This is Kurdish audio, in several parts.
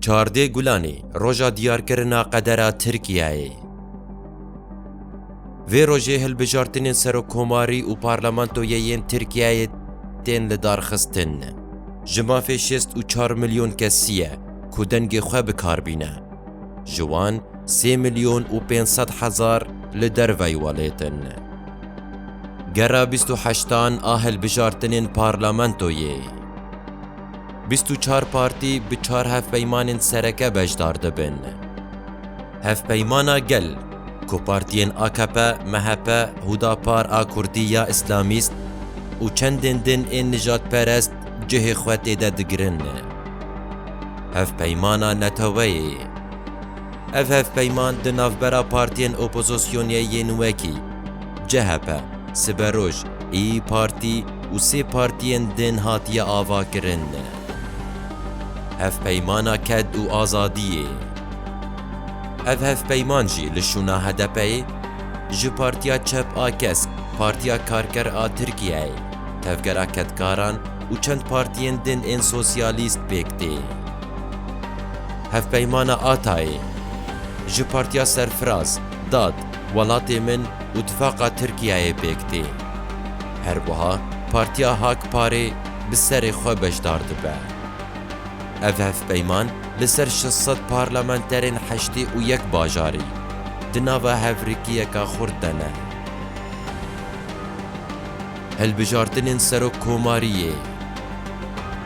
Çardê Gulanê roja diyarkirina qedera Tirkiyeyê. Vê rojê hilbijartinên serokkomarî û parlamentoyê yên Tirkiyeyê tên lidarxistin. Ji mafê şêst û çar milyon kesî ye ku dengê xwe bi kar bîne. Ji wan sê milyon û pênc sed hezar li derveyî welêt in. Gera bîst û heştan a hilbijartinên parlamentoyê. Bîst û çar partî bi çar hevpeymanên sereke beşdar dibin. Hevpeymana Gel, ku partiyên akp, MHP, Hudapar a Kurdî ya Îslamîst û çendên din ên nijadperest cihê xwe têde digirin. Hevpeymana Neteweyê. Ev hevpeyman di navbera partiyên opozosyonê yên wekî chp, Siberoj, Îyi Partî û sê partiyên din hatiye avakirin Hevpeymana Ked û Azadiyê. Ev hevpeyman jî li şûna HDP'ê ji Partiya Çep a Kesk, Partiya Karker a Tirkiyeyê, Tevgera Kedkaran û çend partiyên din ên sosyalîst pêk tê. Hevpeymana Atayê, Ji Partiya Serfiraz, Dad, Welatê Min û Tifaqa Tirkiyeyê pêk tê. Herwiha Partiya Hak Parê bi serê xwe beşdar dibe. Ev hevpeyman li ser şeş sed parlamenterên heştê û yek bajarî di nava hevrikiyeke xurt de ne. Hilbijartinên Serokkomariyê,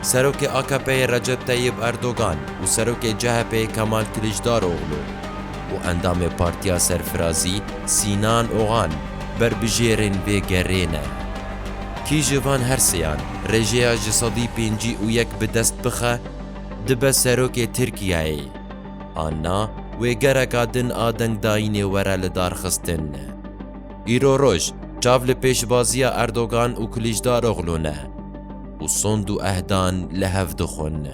Serokê AKP'ê Recep Teyib Erdogan û Serokê CHP'ê Kemal Kilicdaroglu û Endamê Partiya Serfirazî Sînan Ogan berbijêrên vê gerê ne. Kî ji van her seyan rêjeya ji sedî pêncî û yek bi dest bixe, dibe serokê Tirkiyeyê an na wê gereka din a dengdayînê were lidarxistin. Îro roj çav li pêşbaziya Erdogan û Kilîcdaroglu ne û sond û ehdan li hev dixwin.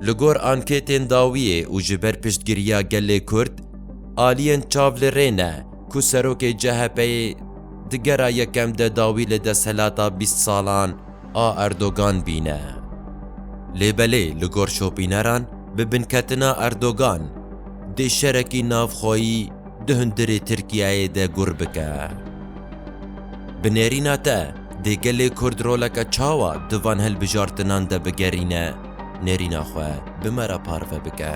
Li gor anketên dawiyê û ji ber piştgiriya gelê Kurd, aliyên çav li rê ne ku serokê CHP'ê di gera yekem de dawî li desthilata bîst salan a Erdogan bîne. Lê belê li gor şopîneran bi binketina Erdogan dê şerekî navxweyî, Di hundirê Tirkiyeyê de gur bike. Bi nêrîna te, dê gelê Kurd roleke çawa di van hilbijartinan de bigerîne, nêrîna xwe bi me re parve bike.